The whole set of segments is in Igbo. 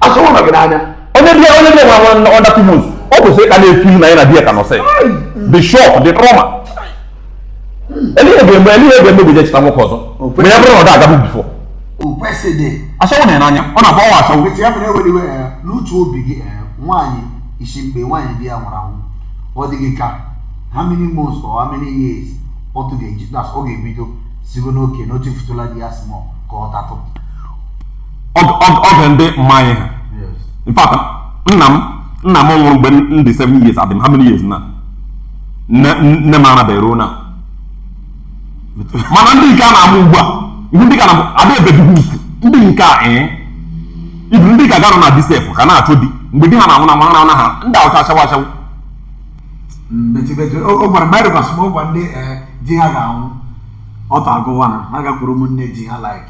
ashawo nọ gị n'anya onye di ya onye di ya nwụrụ under two months o kwesị ka na-efeel na ya na di ya ka nọsị the shock the trauma elie ga-eme elie ga-eme bụ je chọta nwoke ọzọ ma ya bụrụ na ọ da agabu before ashawo nọ ya n'anya ọ na-agbabu ashawo n'uche obi gị nwaanyị isi mgbe nwaanyị di ya nwụrụ anwụ ọ dịghị ka how many months or how many years ọtụ ga-eji ọ ga-ebido sịgo nwoke na otu fụtụla di ya small ka ọ tatụ oge ndị mama anyị ha in fact nna m nna m nwụrụ mgbe m dị 7 years adị m how many years now nne m arabeghị ruo now mana ndị nke a na-amụ ugbu a ihu ndị ka na ada ebebighị ukwu ndị nke a ee eh, even ndị ka garọ na di sef ka na-achọ di mgbe di ha na-anwụ na mara na ha ndị a wụcha ashawo ashawo o gwara mgbe anyị rịkwasị m ụgwa ndị eh, di ha ga-anwụ ọtụ agụwa ha ha gakwuru ụmụnne di ha like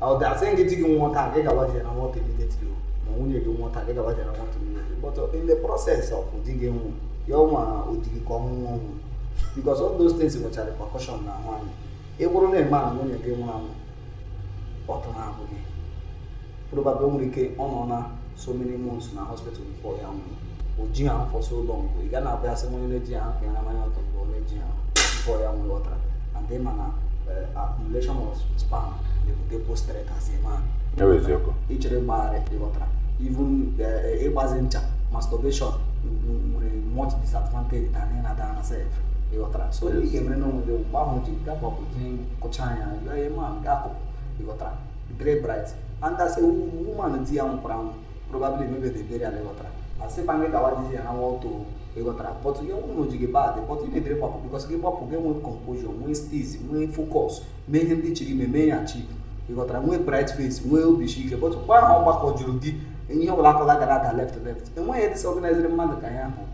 a da asị gị di gị nwụọ taa gị gawa je rawa ọtụ immediately ma nwunye gị nwụọ taa gị gawa je rawa ọtụ immediately but uh, in the process of di gị nwụ ya ọnwa ọ dị gị ka ọnwụ nwa ọnwụ because all those things nwechara repercussion n'ahụ nwaanyị ị bụrụ na a man nwunye gị nwụrụ anwụ ọtụ na-agụ gị probably o nwere ike ọ nọ na so many months na hospital before ya anwụọ o ji ha for so long ị ga na-abịa asị onye na-eji ha ka ya na manya ọtụ mgbe ọ na-eji ha before ya anwụọ ịghọtara and then mana eh, accumulation of sperm na-ebute postrate as a man Ewe eziokwu. ichere gbagharị ịghọtara even eh, ịgbazi ncha masturbation nwere much disadvantage than ịra nwaanyị self ịghọtara so ị ga-emere n'onwe gị mgbe ahụ ji gapọpụ ji kụcha anya yọọ ihe ma ga-akụ ịghọtara dịrị bright and as a woman di ya nwụkwara anwụ probably emebeghị burial ị ghọtara asị pa gị gawa jezie rawa ọtụ ị ghọtara but ya wụrụ na o ji gị bad but ị needịrị ịgbapụ because gị gbapụ gị nwee composure nwee steeze nwee focus mee ihe ndị ị chọrọ ime mee ya achieve ị ghọtara nwee bright face nwee obi isi ike but mgbe ahụ ọ gbakọọ juru gị ihe ọbụla aka na-agara gị left left enweghị ihe disorganiziri mmadụ ka ihe ahụ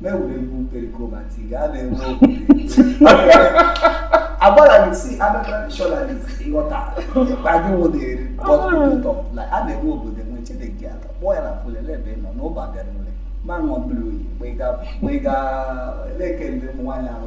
mewere egwu Pericoma tiga a na-enwe okwu agbara gị si other traditionalists ịghọta ma gị nwụdịrị bọtụtọ a na-enwe obodo enwe chineke aka kpọọ ya na fulele ebe ị nọ n'ụba bịara ule ma ṅụọ mmiri oyi mgbe ị ga-ele ekele ụmụ nwaanyị ahụ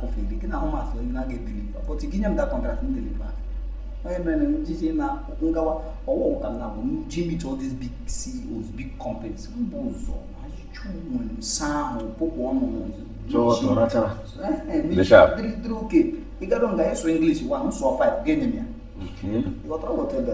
o feel gị n'ahụ masị onye na ọ ga-edeliver but gị nye m that contract m deliver onye mere na njiji na m gawa ọ wụ ka m je meet all these big CEOs big companies mbụ ụzọ ajụjụ nwere nsa ahụ pụpụ ọnụ dịrị okay ịgado nga ịsụ English wa nsọ 5 ga-enye m ya ịghọtara ghọta ebe